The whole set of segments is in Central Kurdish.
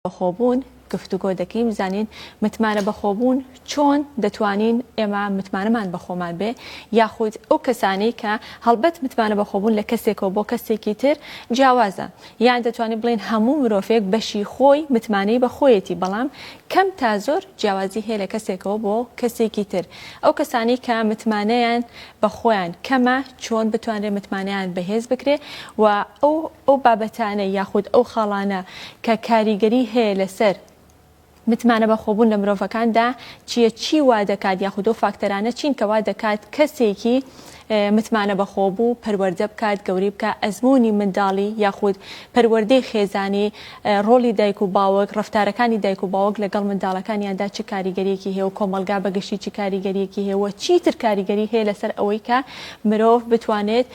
بەخۆبوون گفتوگۆ دەکەین بزانین متمانە بەخۆبوون چۆن دەتوانین ئێمە متمانەمان بەخۆمان بێ یاخود ئەو کەسانی کە هەڵبەت متمانە بەخۆبوون لە کەسێکەوە بۆ کەسێکی تر جیاوازە یان دەتوانین بڵین هەموو مرۆڤێک بەشی خۆی متمانەی بەخۆیەتی بەڵام کەم تا زۆر جیاوازی هەیە لە کەسێکەوە بۆ کەسێکی تر ئەو کەسانی کە متمانەیان بە خۆیان کەمە چۆن بتوانرێ متمانەیان بەهێز بکرێ و ئەو ئەو بابەتانە یاخود ئەو خاڵانە کە کاریگەری هەیە لەسەر متمانە بەخۆبوون لە مرۆڤەکاندا چیە چی وا دەکات یاخود ئەو فاکتەرانە چین کە وا دەکات کەسێکی متمانە بەخۆبوو پەروەردە بکات گەوری بکە ئەزمموی منداڵی یاخود پەروەردەی خێزانی ڕۆڵی دایک و باوک، ڕەفتارەکانی دایک و باوک لەگەڵ منداڵەکانیاندا چ کاریگەرییەکی هەیە و کۆمەڵگا بە گشتی چ کاریگەرییەکی هەیە و چیتر کاریگەری هەیە لەسەر ئەوەی کە مرۆڤ بتوانێت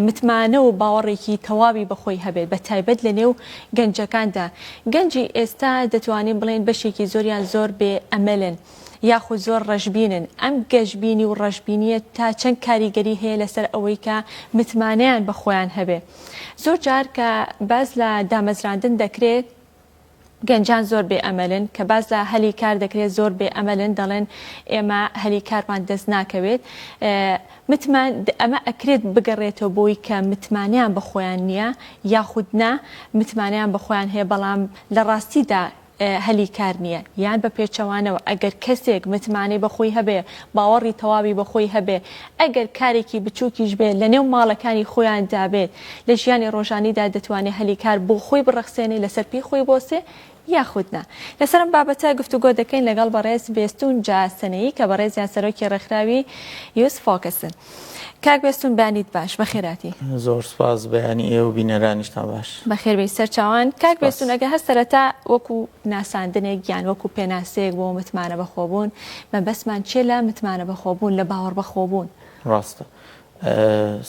متمانە و باوەڕێکی تەواوی بە خۆی هەبێت بە تایبەت لە نێو گەنجەکاندا. گەنجی ئێستا دەتوانین بڵێین بەشێکی زۆریان زۆر بێ ئەمەلن یاخود زۆر ڕەشبینن. ئەم گەشبینی و ڕەشبینییە تا چەند کاریگەری هەیە لەسەر ئەوەی کە متمانەیان بە خۆیان هەبێ؟ زۆر جار کە باس لە دامەزراندن دەکرێت گەنجان زۆر بێ ئەمەلن کە باز لە هەلی کار دەکرێت زۆر بێ ئەمەلن دەڵێن ئێمە هەلی کارمان دەست ناکەوێت متمان ئەمە ئەکرێت بگەڕێتەوە بۆی کە متمانیان بە خۆیان نییە یاخود نا متمانیان بە خۆیان هەیە بەڵام لە ڕاستیدا هەلی کار نییە یان بە پێچەوانەوە ئەگەر کەسێک متمانەی بە خۆی هەبێ، باوەڕی تەواوی بە خۆی هەبێ، ئەگەر کارێکی بچووکیش بێت لە نێو ماڵەکانی خۆیاندا بێت، لە ژیانی ڕۆژانیدا دەتوانێ هەلی کار بۆ خۆی بڕەخسێنێ، لەسەر پێی خۆی بۆسێ یاخود نا. لەسەر ئەم بابەتە گفتوگۆ دەکەین لەگەڵ بەڕێز بێستوون جا سنەیی کە بەڕێزیان سەرۆکی ڕێکخراوی Youth Focus ن. کاک بێستون بانیت باش بەخێراتی. زۆر سوپاس بەیانی ئێوە و بینەرانیشتان باش. بەخێربێی سەرچاوان کاک سپاس. بێستون ئەگە هەر سەرەتا وەکو ناساندنێک یان وەکو پێناسەیەک بۆ متمانە بەخۆبوون مەبەستمان چیە لە متمانە بەخۆبوون لە باوەڕ بەخۆبوون؟ ڕاستە ئە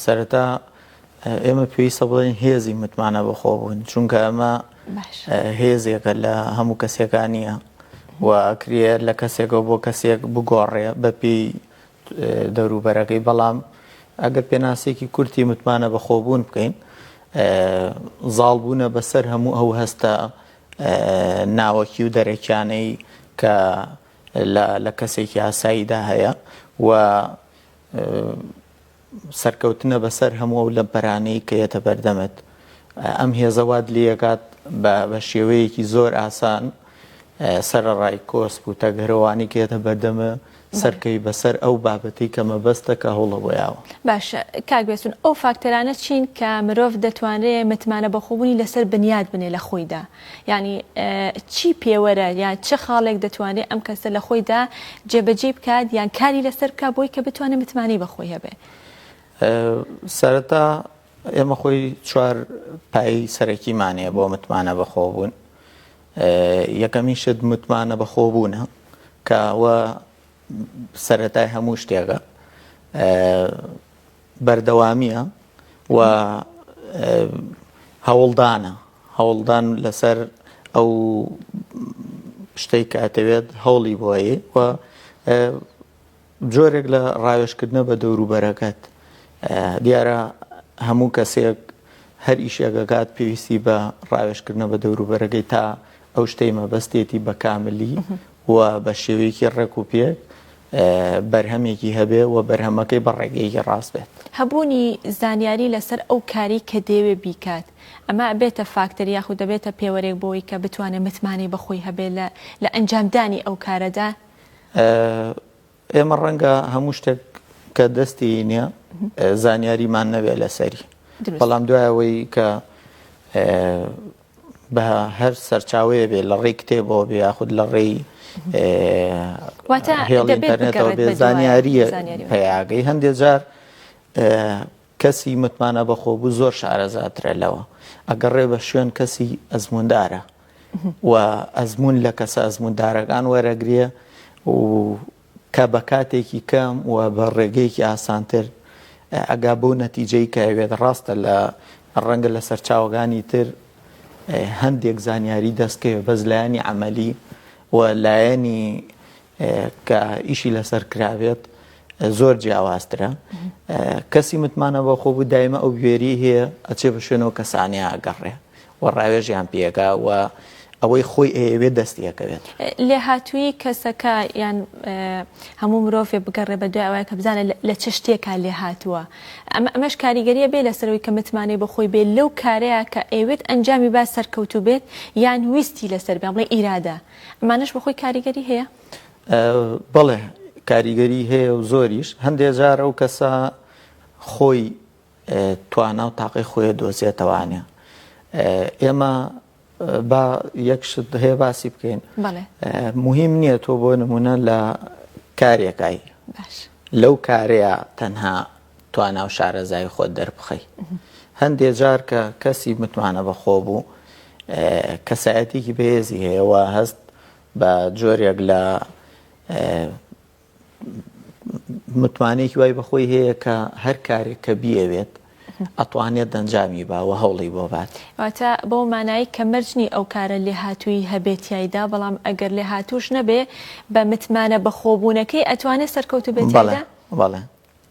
سەرەتا ئە ئێمە پێویستە بڵێین هێزی متمانە بەخۆبوون چونکە ئەمە باش ئە هێزێکە لە هەموو کەسێکا نیە و ئەکرێ لە کەسێکەوە بۆ کەسێک بگۆڕێ بەپێی دەوروبەرەکەی، بەڵام ئەگەر پێناسەیەکی کورتی متمانە بەخۆبوون بکەین، زاڵبوونە بەسەر هەموو ئەو هەستە ناوەکی و دەرەکیانەی کە لە کەسێکی ئاساییدا هەیە و سەرکەوتنە بەسەر هەموو ئەو لەمپەرانەی کە یەتە بەردەمت. ئەم هێزە وات لێکات بە شێوەیەکی زۆر ئاسان سەرەڕای کۆسپ و تەگەرەوانی کە یەتە بەردەمە، سەرکەوی بەسەر ئەو بابەتەی کە مەبەستە کە هەوڵە بۆ یاوە. باشە کاک بێستون ئەو فاکتەرانە چین کە مرۆڤ دەتوانرێ متمانە بەخۆبونی لەسەر بنیات بنێ لە خۆیدا یانی چی پێوەرە یان چ خاڵێک دەتوانێ ئەم کەسە لە خۆیدا جێبەجێی بکات یان کاری لەسەر بکات بۆی کە بتوانێ متمانەی بەخۆی هەبێ؟ سەرەتا ئێمە خۆی چوار پایەی سەرەکیمان هەیە بۆ متمانە بەخۆبوون. یەکەمین شت متمانە بەخۆبوونە کە ئەوە سەرەتای هەموو شتێکە بەردەوامیە و هەوڵدانە هەوڵدان لەسەر ئەو شتێک کاتەوێت هەوڵی بۆیە و جۆرێک لە ڕاوێژکردنە بە دەوروبەرەکەت. دیارە هەموو کەسێک هەر ئیشێک ئەکات پێویستی بە ڕاوێژکردنە بە دەوروبەرەکەی تا ئەو شتەی مەبەستێتی بە کاملی و بە شێوەیەکی ڕێک و پێک بەرهەمێکی هەبێ و بەرهەمەکەی بە ڕێگەیەکی ڕاست بێت. هەبوونی زانیاری لەسەر ئەو کارەی کە دەیەوێ بیکات ئەمە ئەبێتە فاکتەر یاخود دەبێتە پێوەرێک بۆوەی کە بتوانێ متمانەی بە خۆی هەبێ لە لە ئەنجامدانی ئەو کارەدا ئێمە ڕەنگە هەموو شتێک کە دەستی نییە زانیاریمان نەوێت لەسەری بەڵام دوایەوەی کە بە هەر سەرچاوەیە بێ لە ڕێی کتێبەوە بێ یاخود لە ڕێی هێڵ ئینتەرنێتەوە بێ زانیاریە پێیاگەی هەندێک جار کەسی متمانە بەخۆبوو زۆر شارەزاترە لەوە ئەگەڕێ بە شوێن کەسی ئەزمووندارە و ئەزموون لە کەسە ئەزمووندارەکان وەرەگرێ و کە بە کاتێکی کەم و بە ڕێگەیەکی ئاسانتر ئەگا بۆ نەتیجەی کەوێت ڕاستە لە ڕەنگە لە سەرچاوەکانی تر هەندێک زانیاری دەستکەوێت بەس لایەنی عملی و لایەنی کە ئیشی لەسەر کرابێت زۆر جیاوازترە کەسی متمانە بە خۆ بوو دایمە ئەو گوێری هەیە ئەچێ بە شوێنەوە کەسانە ئەگەڕێ و ڕاوێژیان پێگا و ئەوەی خۆی ئەیەوێت دەستیەکەوێت لێ هاتووی کەسەکە یان هەموو مرۆڤێ بگەڕێ بە دوای ئەوەیە کە بزانە لە چ شتێکا لێ هاتووە ئەمە ئەمەش کاریگەریە بێ لەسەرەوەی کە متمانەی بەخۆی بێت لەو کارەیە کە ئەوێت ئەنجامی با سەرکەوتوو بێت یان ویستی لەسەر بێ بڵێ ئیرادە ئەمانەش بەخۆی کاریگەری هەیە؟ بەڵێ کاریگەری هەیە و زۆریش هەندێ جار ئەو کەسە خۆی توانا و تاقی خۆیە دۆزێتەوانە ئێمە با یەکشت هەیە باسی بکەین مهم نییە تۆ بۆ نمونە لە کارێکایی لەو کارەیە تەنها توانا و شارەزایی خۆت دەربخەی هەندێ جار کە کەسی متمانە بەخۆ بوو کەسایەتێکی بەهێزی هەیەەوە هەست بە جۆرێک لە متمانێکی وای بەخۆی هەیە کە هەر کارێک کە بیەوێت ئەتوانێت دەنجامی باوە هەوڵی بۆ بات واتە بەو مانایی کە مەرجنی ئەو کارە لێ هاتووی هەبێتیایدا بەڵام ئەگەر لێ هاتووش نەبێ بە متمانە بەخۆبوونەکەی ئەتوانێت سەرکەوتو بێت بەڵێ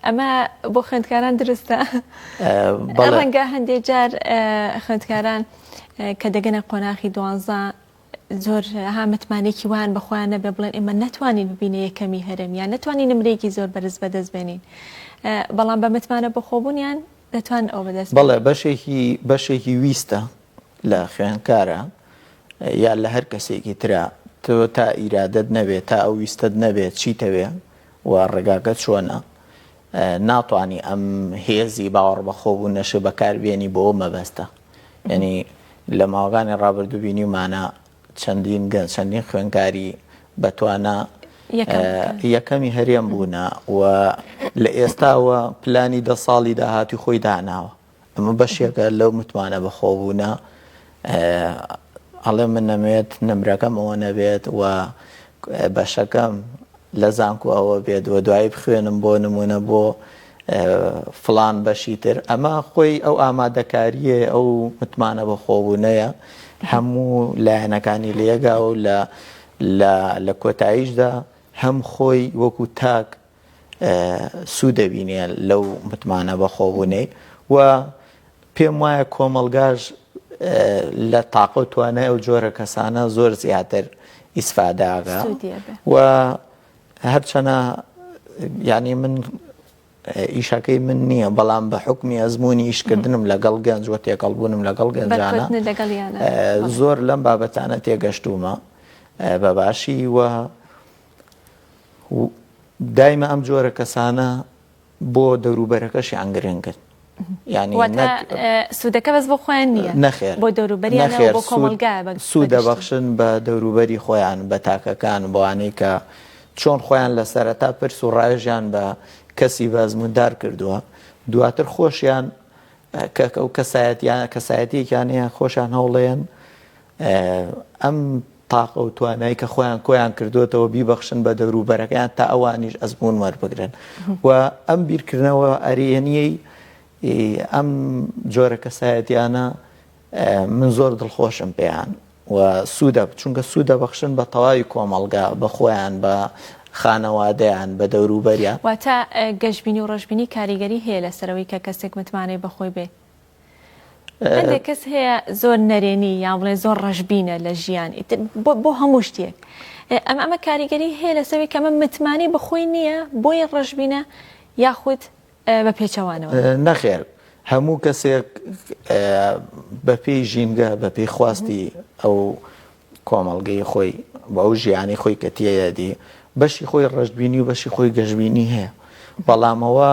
ئەمە بۆ خوێندکاران درستە ڕەنگە هەندێک جار خوێندکاران کە دەگەنە قۆناخی دوانزە زۆر ها متمانێکی وان بەخۆیان نەبێ بڵێن ئێمە ناتوانین ببینە یەکەمی هەرێم یان نتوانانی نمرێکی زۆر بەرز بەدەست بێنین بەڵام بە متمانە بەخۆبوونیان دەتوان ئەو بەدەست بەڵێ بەشێکی بەشێکی ویستە لە خوێنکارە یا لە هەر کەسێکی تررا تۆ تا ئیرادت نەبێت تا ئەو ویستت نەبێت چیتەوێ و ڕێگاکە چۆنە؟ ناتوانی ئەم هێزی باوەڕبەخۆبوونەشێ بەکار بێنی بۆ ئەو مەبەستە. یانی لە ماوەکانی ڕابردوو بینیومانە چەندین گەنج، چەندین خوێندکاری بەتوانا یەکەمی هەرێم بوونە و لە ئێستاوە پلانی دە ساڵی داهاتووی خۆی داناوە. ئەمە بەشێکە لەو متمانە بەخۆبوونە ئەڵێ من نەمەوێت نمرەکەم ئەوە نەبێت و بەشەکەم لە زانکو ئەوە بێت و دوایی بخوێنم بۆ نمونە بۆ فلان بەشی تر ئەمە خۆی ئەو ئامادەکاریە ئەو متمانە بە خۆبوونەیە هەموو لایەنەکانی لێگا و لە لە کۆتاییشدا هەم خۆی وەکو تاک سوود دەبینێ لەو متمانە بەخۆبوونەی و پێم وایە کۆمەڵگاش لە تاقە و توانای ئەو جۆرە کەسانە زۆر زیاتر ئیسفاداگە و هەرچەنە ینی من ئیشەکەی من نییە بەڵام بە حکمی ئەزمموی ئیشکردنم لەگەڵ گەنج و تێکەڵبوونم لەگەڵ گەنجانە زۆر لەم بابەتانە تێگەشتومە بە باشی وە و دایمە ئەم جۆرە کەسانە بۆ دەوروبەرەکەشیان گرنگن سوودەکە بەس بۆ خۆیان نییە نەخێر بۆ دەوروبەری نەخێر بۆ کۆمەلگا سوودە بەخشن بە دەوروبەری خۆیان بە تاکەکان بۆوانەی کە چۆن خۆیان لە سەرەتا پرس و ڕایژیان بە کەسی بەزموندار کردووە دواتر خۆشیان کەکە و کەسایەتیان کەسایەتیەکیان هەیە خۆشان هەوڵێن ئەم تاقە و توانای کە خۆیان کۆیان کردوێتەوە بیبەخشن بە دەوروبەرەکەیان تا ئەوانیش ئەزمون وەربگرن و ئەم بیرکردنەوە ئەریەنیەی ئەم جۆرە کەسایەتیانە من زۆر دڵخۆشم پێیان و سوودە چونکە سوودە بەخشن بە تەواوی کۆمەڵگا بە خۆیان بە خانەوادەیان بە دەوروبەریان واتە گەشببینی و ڕژبینی کاریگەری هەیە لەسەرەوەی کە کەسێک متمانەی بەخۆی بێت هەندێک کەس هەیە زۆر نەرێنی یان بڵێ زۆر ڕەشببینە لە ژیان بۆ هەموو شتێک ئەم ئەمە کاریگەری هەیە لەسەوی کەمە متمانەی بەخۆی نییە بۆیە ڕەشببینە یاخود بە پێچەوانەوە نەخێر هەموو کەسێک بەپی ژینگە بەپی خواستی ئەو کۆمەڵگەی خۆی بە ئەو ژیانی خۆی کە تێدی بەشی خۆی ڕژبینی و بەشی خۆی گەشببینی هەیە بەڵامەوە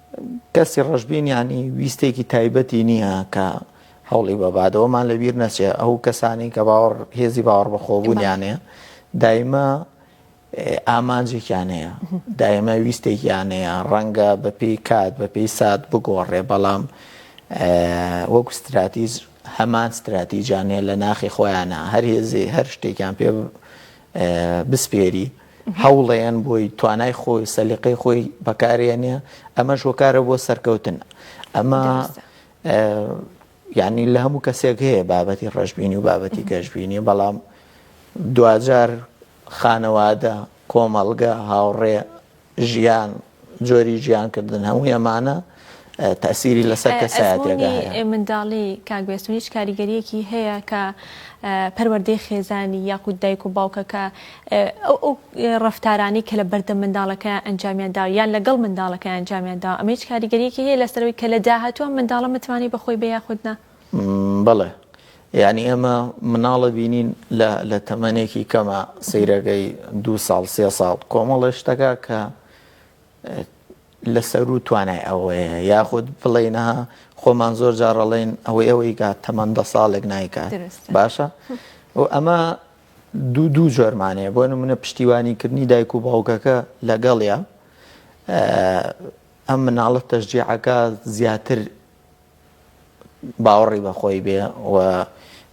کەسی ڕەشبین یانی ویستێکی تایبەتی نییە کە هەوڵی بەبادەوەمان لەبیر نەچێ ئەو کەسانی کە باوەڕ هێزی باوەڕ بەخۆبوونیانەیە دایمە ئامانجێکیانەیە دایمە ویستێکیانەیە ڕەنگە بەپی کات بەپی سات بگۆڕێ بەڵام وەک استراتیز هەمان استراتیجانەیە لە ناخی خۆیانە هەر هێزی هەر شتێکیان پێ بسپێری هەوڵێن بۆی توانای خۆی سەلیقەی خۆی بەکارێنێ ئەمەش هۆکارە بۆ سەرکەوتن ئەمە یعنی لە هەموو کەسێک هەیە بابەتی ڕژبینی و بابەتی گەشببینی بەڵام دوجار خانەوادە کۆمەڵگە هاوڕێ ژیان جۆری ژیانکردن هەمووی ئەمانە تەسیری لەسەر کەسایەتێکدا هەیە منداڵی کاک بێستون هیچ کاریگەریەکی هەیە کە پەروەردەی خێزانی یاخود دایک و باوکەکە ئەو ئەو ڕفتارانی کە لە بەردە منداڵەکە ئەنجامیان دا یان لەگەڵ منداڵەکە ئەنجامیان دا ئەمە هیچ کاریگەریەکی هەیە لەسەرەوەی کە لە داهاتوە منداڵە متمانی بەخۆی بە یاخودنا بەڵێ یانی ئێمە مناڵە بینین لە تەمەنێکی کەمە سەیرەگەی دو ساڵ سێ ساڵ کۆمەڵە شتەکە کە لە سەرو توانای ئەوەیە یاخود بڵێنەها خۆمان زۆر جاڕەڵێن ئەوەی ئەوەی کا تەمەند دە ساڵێک نایکات باشە و ئەمە دوو دوو جۆرمانەیە بۆ نمونە پشتیوانیکردنی دایک و باوکەکە لەگەڵە ئەم مناڵە تەژجیعەکە زیاتر باوەڕی بە خۆی بێ و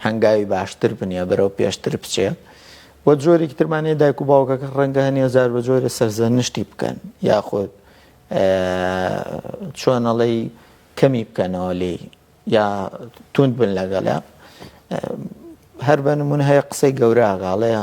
هەنگاوی باشتر بنیە بەرەو پێشتر بچێ و جۆرێکی ترمانەیە دایک و باوکەکە ڕەنگە هەنێ زار بە جۆرە سەرزەنشتی بکەن یاخود چۆنەڵی کەمی بکەنەوە لێ یا توند بن لەگەڵە هەر بە نمونە هەیە قسەی گەوراگاڵەیە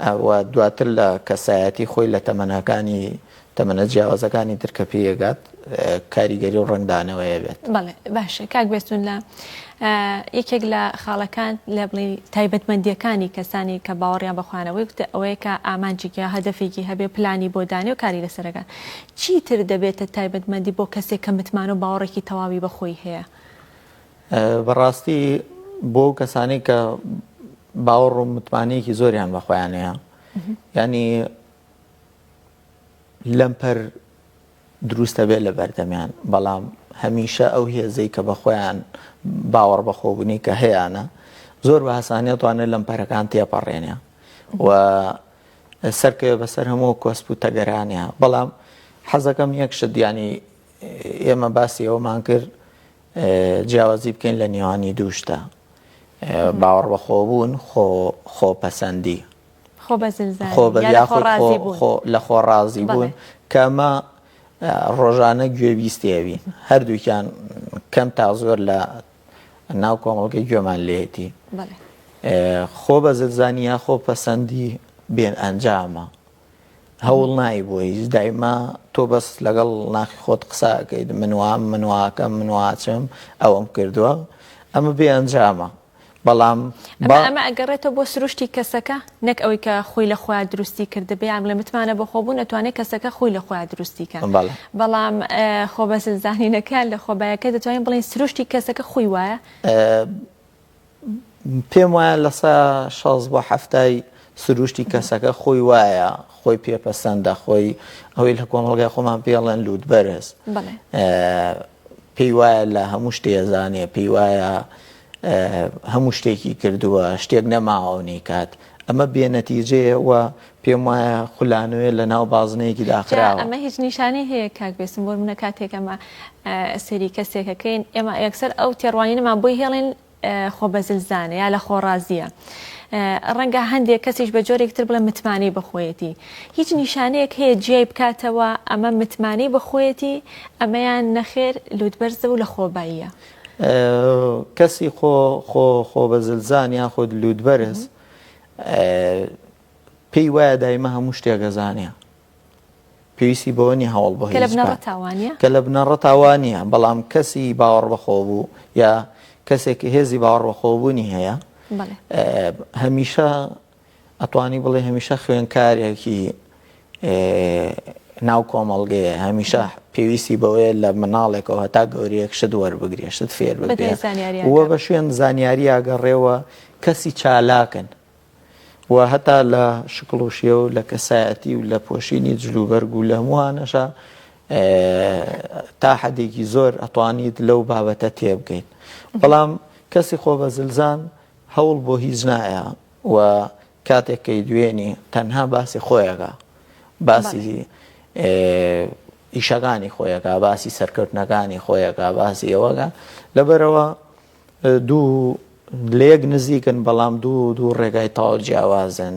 و دواتر لە کەسایەتی خۆی لە تەمەنەکانی تەمەنە جیاوازەکانی تر کە پێی ئەگات کاریگەری و ڕەنگدانەوەیە بێت. بەڵێ باشە کاک بێستون لە یەکێک لە خاڵەکان لە بڵی تایبەتمەندیەکانی کەسانی کە باوەڕیان بە خوانەوەی وتە ئەوەیە کە ئامانجێکی هەدەفێکی هەبێ پلانی بۆ دانێ و کاری لەسەرەکە چیتر دەبێتە تایبەتمەندی بۆ کەسێک کە متمانە و باوەڕێکی تەواوی بەخۆی هەیە بەڕاستی بۆ ئەو کەسانەی کە باوەڕ و متمانەیەکی زۆریان بە خۆیان هەیە ینی لەمپەر دروستە بێت لە بەردەمیان بەڵام هەمیشە ئەو هێزەی کە بە خۆیان باوەڕ بەخۆبوونی کە هەیەە زۆر بە هەسانە توانێت لەم پەرەکان تێپەڕێنە و سەرکەوێ بەسەر هەموو کۆسپ و تەگەرانە بەڵام حەزەکەم یەک شت دیانی ئێمە باسی ئەومان کرد جیاوازی بکەین لە نێوانی دوو شتە، باوەڕبەخۆبوون، خۆپەسەندی، لەخۆڕازیبوون، کە ئەمە ڕۆژانە گوێبیستی ئەوین، هەردووکیان کەم تا زۆر لە ناو کۆمەڵگەی گوێمان لێیەتی، خۆبەزلزانی یا خۆپەسەندی بێ ئەنجامە. هەوڵ نایی بۆ هیچ دایما تۆ بەس لەگەڵ ناخی خۆت قسە ئەکەیت من وام من واکەم من واچم ئەوەم کردووە ئەمە بێ ئەنجامە بەڵام با- ئەمە ئەمە ئەگەڕێتەوە بۆ سروشتی کەسەکە نەک ئەوەی کە خۆی لە خۆیان دروستی کردبێ یان لە متمانە بە خۆ بوون ئەتوانێت کەسەکە خۆی لە خۆیان دروستی کە بەڵێ. بەڵام ئە، خۆبەزلزانینەکە لە خۆبایەکە دەتوانین بڵێین سروشتی کەسەکە خۆی وایە پێم وایە لە سە شەست بۆ حەفتای سروشتی کەسەکە خۆی وایە خۆی پێ پەسەندە خۆی ئەوەی لە کۆمەڵگای خۆمان پێڵێن لووت بەرز پێی وایە لە هەموو شتێزانێ پێی وایە هەموو شتێکی کردووە شتێک نەماوەنی کات ئەمە بێ نەتیجەیە و پێم وایە خولانەوەیە لە ناو بازنەیەکی داخراوە. ئەمە هیچ نیشانەی هەیە کاک بێسم بۆ منە کاتێک ئەمە سەری کەسێکەکەین ئێمە یەکسەر ئەو تێڕوانینەمان بۆی هێڵین خۆ بەزلزانە یا لە خۆڕازیە ڕەنگە هەندێک کەسیش بە جۆرێک تر بڵێ متمانەی بەخۆیەتی هیچ نیشانەیەک هەیە جیای بکاتەوە ئەمە متمانەی بەخۆیەتی ئەمەیان نەخێر لوتبەرزە و لە خۆباییە کەسی خۆ خۆ خۆ بە زلزان یان خۆت لووت بەرز پێی وایە دایمە هەموو شتێک گەزانە پێویستی بۆ نیە هەوڵ بە کە لە بنەڕە تاوانە بەڵام کەسی باوەڕ بەخۆ بوو یا کەسێک هێزی باوەڕ بەخۆبوونی هەیە هەمیشە ئەتوانی بڵێ هەمیشە خوێنکارێکی ناو کۆمەڵگەیە هەمیشە پێویستی بەوەیە لە مناڵێکەوە هەتا گەورەیەک شت وەربگرێ شت فێر وە بە شوێن زانیارییا گەڕێەوە کەسی چالاکن و هەتا لە شکڵوشیە و لە کەسایەتی و لە پۆشینی جلوبەرگ و لە هەمووانەشە تا حەدێکی زۆر ئەتوانیت لەو بابەتە تێبگەیت بەڵام کەسی خۆ بە زلزان هەوڵ بۆ هیچ نایە و کاتێک کەی دوێنی تەنها باسی خۆیەکە باسی ئیشەکانی خۆیەکە باسی سەرکەوتنەکانی خۆیەکە باسی ئەوەگە لەبەرەوە دوو لێک نزیکن بەڵام دوو دوو ڕێگای تاو جیاوازن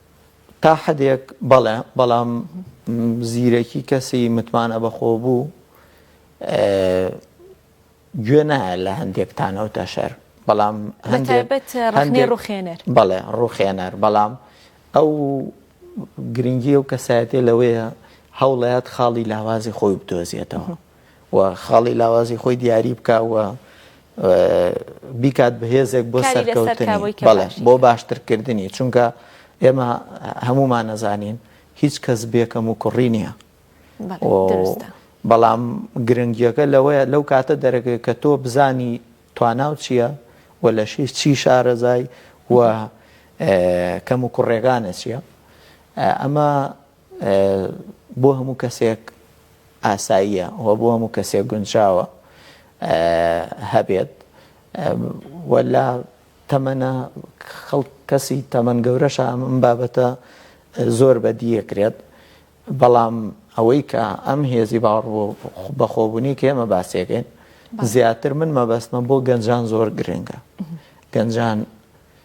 تا حەدێک بەڵێ، بەڵام زیرەکی کەسی متمانە بەخۆبوو گوێ نایە لە هەندێک تانەو تەشەر، بەڵام هەندێک ڕەخنەی ڕوخێنەر، بەڵێ ڕوخێنەر، بەڵام ئەو گرنگی ئەو کەسایەتیە لەوەیە هەوڵەیەت خاڵی لاوازی خۆی بدۆزێتەوە. و خاڵی لاوازی خۆی دیاری بکا و بیکات بە هێزێک بۆ سەرکەوتنی بۆ باشترکردنی چونکە ئێمە هەمومان نەزانین هیچ کەس بێکەم و کوڕی نییە بەڵام گرنگیەکە لەوەیە لەو کاتە دەرەکەی کە تۆ بزانی تواناو چییە و لە شی چی شارەزای و کەم و کوڕێگانە چییە ئەمە بۆ هەموو کەسێک ئاساییە و بۆ هەموو کەسێک گونجاوە هەبێت و لە تەمەە خەڵ کەسی تەمەەن گەورەشە ئەم بابەتە زۆر بەدیەکرێت بەڵام ئەوەی کە ئەم هێزی باوەڕ بۆ بەخۆبوونی کە ئێمە باسێکەین زیاتر من مەبەستمە بۆ گەنجان زۆر گرنگە گەنجان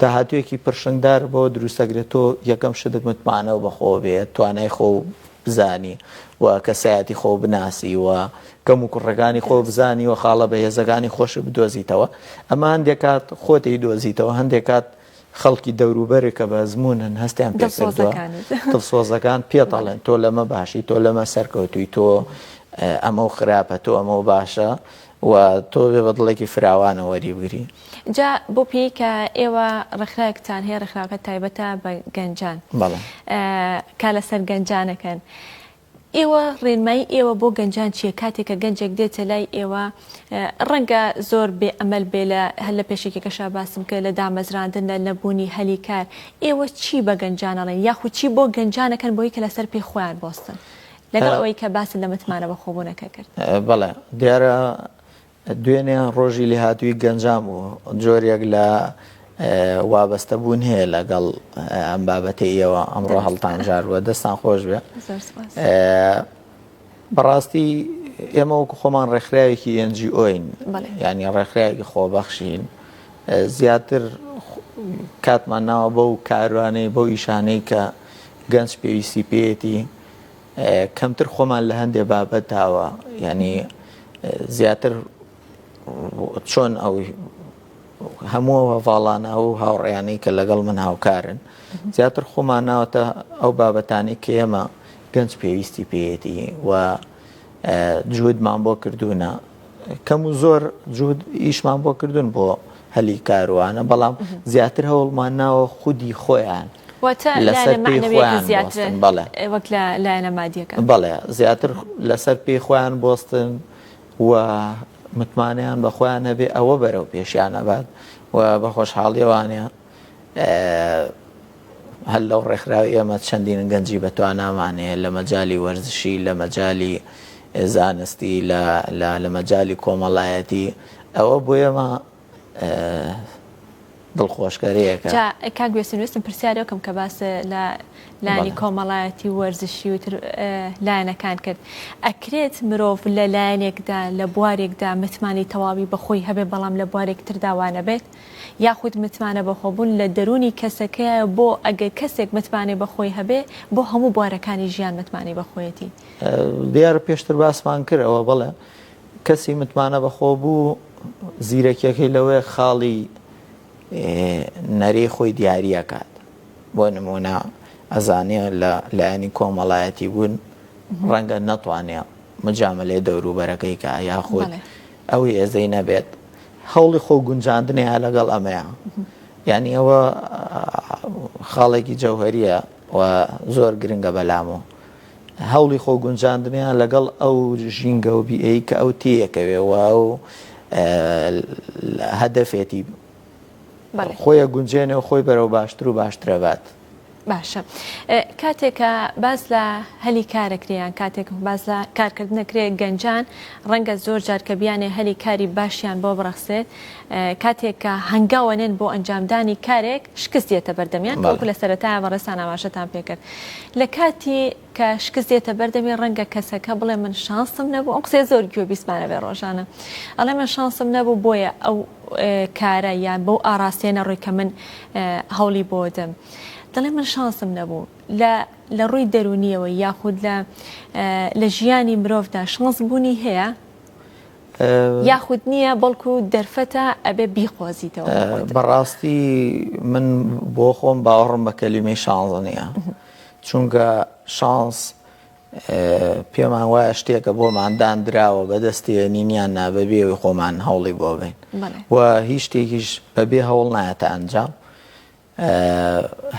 داهاتوویەکی پرشنگدار بەوە دروستدەکرێت تۆ یەکەم شت متمانە و بەخۆوە بێ، توانای خۆ بزانی و کەسایەتی خۆ بناسی و کەم و کوڕەکانی خۆ بزانی و خاڵە بەهێزەکانی خۆشت بدۆزیتەوە، ئەمە هەندێک کات خۆت ئەیدۆزیتەوە، هەندێک کات خەڵکی دەوروبەرت کە بە ئەزموونن هەستیان پێ کردووە، دڵسۆزەکانت پێت ئەڵێن تۆ لەمە باشی، تۆ لەمە سەرکەوتووی، تۆ ئەمە و خراپە، تۆ ئەمە و باشە. و تۆ بێ بە دڵێکی فراوانەوە وەری بگری. جا بۆ پێی کە ئێوە ڕێکخراوێکتان هەیە ڕێکخراوەکە تایبەتە بە گەنجان بەڵێ کار لەسەر گەنجانەکەن ئێوە ڕێنمایی ئێوە بۆ گەنجان چیە کاتێک کە گەنجێک دێتە لای ئێوە ڕەنگە زۆر بێ ئەمەل بێ لە هەر لە پێشێکێکەشا باسم کرد لە دامەزراندن لە نەبوونی هەلی کار ئێوە چی بە گەنجانەڵێن یاخود چی بۆ گەنجانەکەن بۆی کە لەسەر پێ خۆیان بۆستن لەگەڵ ئەوەی کە باست لە متمانە بەخۆبوونەکە کرد. بەڵێ، دیارە دوێنێ ڕۆژی لێهاتوویی گەنجان بوو، جۆرێک لە وابەستەبوون هەیە لەگەڵ ئەم بابەتەی ئێوە ئەمڕۆ هەڵتانژاروە، دەستان خۆش بێ. زۆر سوپاس. بەڕاستی ئێمە وەکو خۆمان ڕێکخراوێکی NGO ین، یانی ڕێکخراوێکی خۆبەخشین، زیاتر کاتمان ناوە بەو کاروانەی، بەو ئیشانەی کە گەنج پێویستی پێیەتی، کەمتر خۆمان لە هەندێ بابەتاوە یعنی زیاتر چۆن ئەو هەموو هەڤاڵانە و هاوڕێیانەی کە لەگەڵ من هاوکارن زیاتر خۆمان ناوەتە ئەو بابەتانی کە ئێمە گەنج پێویستی پێیەتی و جوودمان بۆ کردوونە کەم و زۆر جوود ئیشمان بۆ کردوون بۆ هەلی کاروانە بەڵام زیاتر هەوڵمان ناوە خودی خۆیان واتە لایەنە مەعنەویەکە زیاترە وەک لە لایەنە مادیەکە؟ بەڵێ زیاتر لەسەر پێی خۆیان بۆستن و متمانەیان بە خۆیان هەبێ ئەوە بەرەو پێشیان ئەبات و بە خۆشحاڵیەوانە هەر لەو ڕێکخراوی ئێمە چەندین گەنجی بە توانامانەیە لە مەجای وەرزشی لە مەجای زانستی لە مەجای کۆمەڵایەتی ئەوە بۆ ئێمە دڵخۆشکەرێکە. جا کاک بێسوود ویستم پرسیاری ئەو کەم کە باس لە لانی کۆمەڵایەتی و وەرزشی و تر لایەنەکان کرد ئەکرێت مرۆڤ لە لایەنێکدا لە بوارێکدا متمانەی تەواوی بەخۆی هەبێت بەڵام لە بوارێک تردا وانەبێت یاخود متمانە بەخۆبوون لە دەروونی کەسەکەیە بۆ ئەگەر کەسێک متمانەی بەخۆی هەبێ بۆ هەموو بوارەکانی ژیان متمانەی بەخۆیەتی؟ دیارە پێشتر باسمان کرد ئەوە بەڵێ کەسی متمانە بەخۆ بوو زیرەکیەکەی لەوەیە خاڵی نەرێی خۆی دیاریەکات بۆ نمونە ئەزانێ لە لایەنی کۆمەڵایەتی بوون ڕەنگە نەتوانێ مجاملەی دەوروبەرەکەی کە یاخود ئەو هێزەی نەبێت هەوڵی خۆ گونجاندنەیە لەگەڵ ئەمەیە یعنی ئەوە خاڵێکی جەوهریە و زۆر گرنگە بەلامەوە هەوڵی خۆ گونجاندنیان لەگەڵ ئەو ژینگە و بیئەی کە ئەو تێیەکەوێ و ئەو هەدەفێتی خۆیە گونجێنێ و خۆی بەرەو باشتر و باشترەبات. باشە کاتێکە باز لە هەلی کارەکریان کاتێک باز لە کارکردنەکرێ گەنجان ڕەنگە زۆر جار کە بیانێ هەلی کاری باشیان بۆ بڕەخسێت کاتێک کە هەنگاوە نێن بۆ ئەنجامدانی کارێک شکست دێتە بەردەمیان وەکو لە سەرەتایە بەڕێزتان ئاماژەتان پێکرد لە کاتی کە شکست دێتە بەردەمی ڕەنگە کەسەکە بڵێ من شانسم نەبوو ئەو قسێ زۆر گوێ بیسمانە بێ ڕۆژانە ئەڵێ من شانسم نەبوو بۆیە ئەو کارە یان بەو ئاراستەیە نەڕووی کە من هەوڵی بۆدەم دەڵێ من شانسم نەبوو لە لە ڕووی دەرونیەوە یاخود لە لە ژیانی مرۆڤدا شانس بوونی هەیە یاخود نییە بەڵکو دەرفەتە ئەبێ بیقۆزیتەوە بەڕاستی من بۆ خۆم باوەڕم بە کەلیمەی شانزە نییە چونکە شانس پێمان وایە شتێکە بۆمان دانراوە بەدەستێ نینیان نابەبێەوەی خۆمان هەوڵی بۆ بین و هیچ شتێکیش بەبێ هەوڵ نایەتە ئەنجام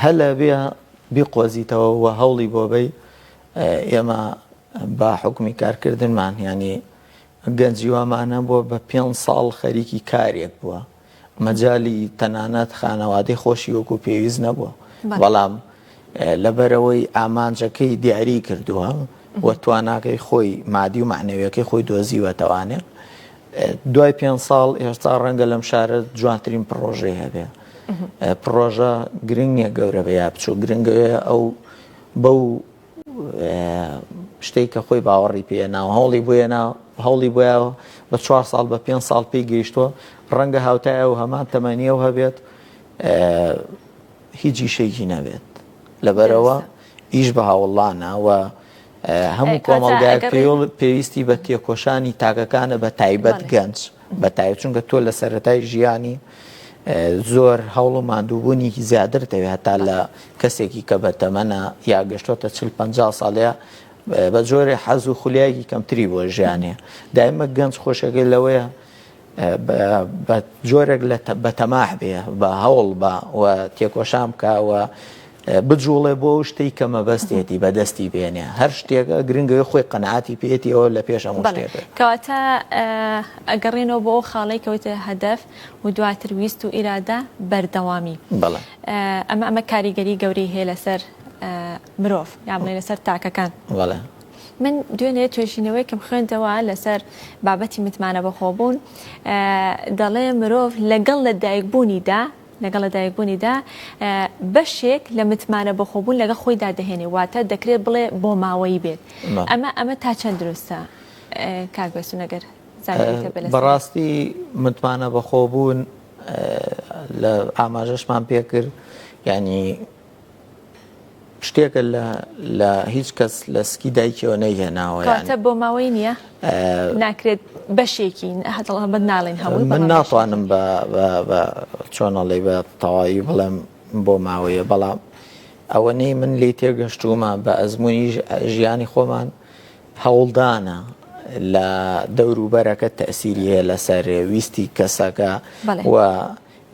هەلە بێ بیقۆزیتەوە و هەوڵی بۆ بەی، ئێمە بە حوکمی کارکردنمان یانی گەنجی وامان هەبووە بە پێنج ساڵ خەریکی کارێک بووە، مەجالی تەنانەت خانەوادەی خۆشی وەکو پێویست نەبووە، بەڵام لەبەرئەوەی ئامانجەکەی دیاری کردووە و تواناکەی خۆی مادی و مەعنەویەکەی خۆی دۆزیوەتەوانێ دوای پێنج ساڵ ئێستا ڕەنگە لەم شارە جوانترین پڕۆژەی هەبێ پڕۆژە گرنگ نیە گەورە بە یا بچوو گرنگەوێ ئەو بەو شتێک کە خۆی باوەڕی پێ ناو هەوڵی بۆیە ناو هەوڵی بۆە بە چوار ساڵ بە پێنج ساڵ پێی گەیشتووە ڕەنگە هاوتایە و هەمان تەمەنیەوە هەبێت هیچ شێکی نەبێت لەبەرەوە ئیش بە هاوڵانەوە هەموو کۆمەڵگایەک پێویستی بە تێکۆشانی تاکەکانە بە تایبەت گەنج بە تایبەت چونکە تۆ لە سەرەتای ژیانی زۆر هەوڵ و مادووبوونیکی زیاتر دەوێت هەتا لە کەسێکی کە بە تەمەە یا گەشتۆتە چل پ ساڵەیە بە جۆرە حەز و خولیایەکی کەمتری بۆ ژیانێ دایمە گەنج خۆشەکەی لەوەیە بە جۆرێک لە بە تەماح بێ، بە هەوڵ بە و تێکۆشان بکا و بجووڵێ بۆ ئەو شتەی کە مەبەستێتی بە دەستی بێنێ. هەر شتێک گرنگە ئەوێ خۆی قەناعەتی پێیەتی ئەوە لە پێش هەموو شتێک. بەڵێ. کەواتە ئەگەڕێینەوە بۆ ئەو خاڵەی کە وتت هەدەف و دواتر ویست و ئیرادە، بەردەوامی. بەڵێ. ئەمە ئەمە کاریگەری گەورەی هەیە لەسەر مرۆڤ یان بڵێین لەسەر تاکەکان. بەڵێ. من دوێنێ توێژینەوەیەکم خوێندەوە لەسەر بابەتی متمانە بەخۆبوون دەڵێ مرۆڤ لەگەڵ لە دایکبوونیدا لەگەڵ لە دایکبوونیدا بەشێک لە متمانە بەخۆبوون لەگە خۆیدا دەهێنێ واتە دەکرێت بڵێ بۆ ماوەی بێت ئەمە ئەمە تا چەند دروستە کاک بێسونەگەر بەڕاستی متمانە بەخۆبوون لە ئاماژەشمان پێکرد ینی شتێکە لە لە هیچ کەس لە سکی دایکەوە نەیهێناوە کاتە بۆ ماوەی نییە ناکرێت بەشێکی هەتەڵەبەت ناڵێن هەموو من ناتوانم بە چۆنەڵی بە تەواوی بڵێم بۆ ماوەیە بەڵام ئەوەنەی من لی تێگەشتومە بە ئەزمموی ژیانی خۆمان هەوڵدانە لە دەوروبەرەکە تەسیری هەیە لەسەر ویستی کەسەکە و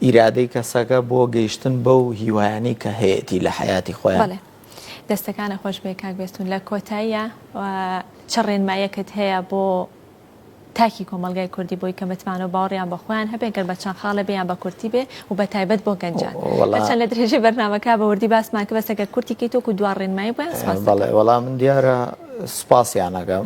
ئیرادەی کەسەکە بۆ گەیشتن بەو هیوایانەی کە هەیەتی لە حەیاتی خۆیان. بەڵێ دەستەکانت خۆش بێ کاک بێستون لە کۆتاییا چ ڕێنمایەکت هەیە بۆ تاکی کۆمەڵگای کوردی بۆی کە متمانە و باوەڕیان بە خۆیان هەبێ گەر بە چەند خاڵێ بێ یان بە کورتی بێ و بە تایبەت بۆ گەنجان وەڵا هەرچەند لە درێژەی بەرنامەکە بە وردی باسمان کرد بەس ئەگەر کورتی کەیت وەکو دوا ڕێنمایی بۆیان سپاس بەڵێ وەڵا من دیارە سپاسیان ئەکەم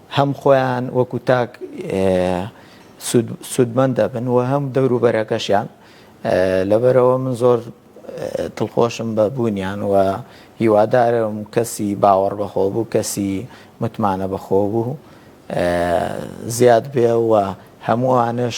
هەم خۆیان وەکو تاک سوودمەند دەبن و هەم دەوروبەرەکەشیان لەبەرەوە من زۆر دڵخۆشم بە بوونیان و هیوادارم کەسی باوەڕ بەخۆ بوو کەسی متمانە بەخۆ بوو زیاد بێ و هەمووانش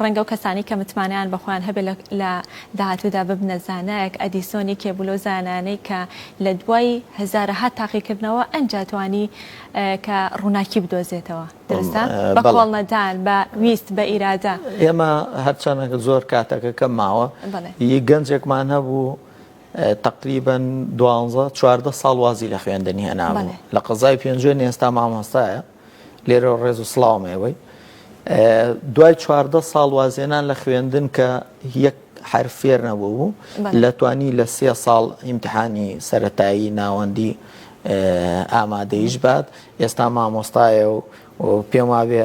ڕەنگە ئەو کەسانەی کە متمانەیان بە خۆیان هەبێت لە داهاتوودا ببنە زانایەک، ئەدیسۆن یەکێک بوو لەو زانایانەی کە لە دوای هەزارەها تاقیکردنەوە ئەنجا توانی کە ڕووناکی بدۆزێتەوە، دەرستە؟ بە کۆڵنەدان، بە ویست، بە ئیرادە. ئێمە هەرچەنە زۆر کاتەکە کەم ماوە، یەک گەنجێکمان هەبوو تەقریبەن دوانزە چواردە ساڵ وازی لە خوێندن هێنابوو لە قەزای پێنجوێن ئێستا مامۆستایە، لێرەوە ڕێز و سڵاوم ئێوەی دوای چواردە ساڵ وازێنان لە خوێندن کە یەک حرفێر نەبوو بوو لە توانی لە سێ ساڵ ئیمتحانی سەتایی ناوەندی ئامادەیش بات ئێستا مامۆستایە و پێم وابێ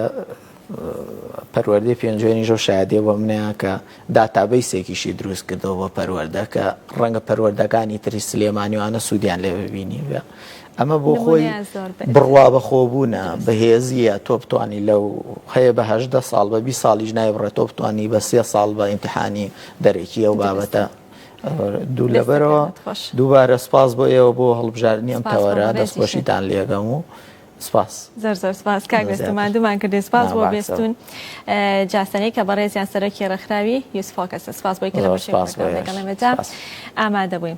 پەروەردەی پێنجێنی ژۆ شادێ بۆ منەیە کە داتابیسێکیشی دروست کردەوە بە پەروەردەکە ڕەنگە پەروەردەکانی تری سلێمانیوانە سوودیان لێ ببینی ئەمە بۆ خۆی بڕوا بەخۆبوونە بەهێزیە تۆ بتانی لەو هەیە بە هەدە ساڵ بە بی ساڵیش نای بڕێت تۆ بتانی بە سێ ساڵ بە ئیمتحانی دەرەکی ئەو بابەتە دوو لەبەرەوە دووبارە سپاس بۆ ئێوە بۆ هەڵبژاردننی ئەم تەوەرە دەستخۆشیتان لێگەم و سپاس زەر زەر سپاس کاک بێستمان دومان کردێ سپاس بۆ بێستون جاسەنەی کە بەڕێزیان سەرەکی ڕێکخراوی یوسفۆکەسە سپاس بۆی کە لە بەشێ ئامادە بووین.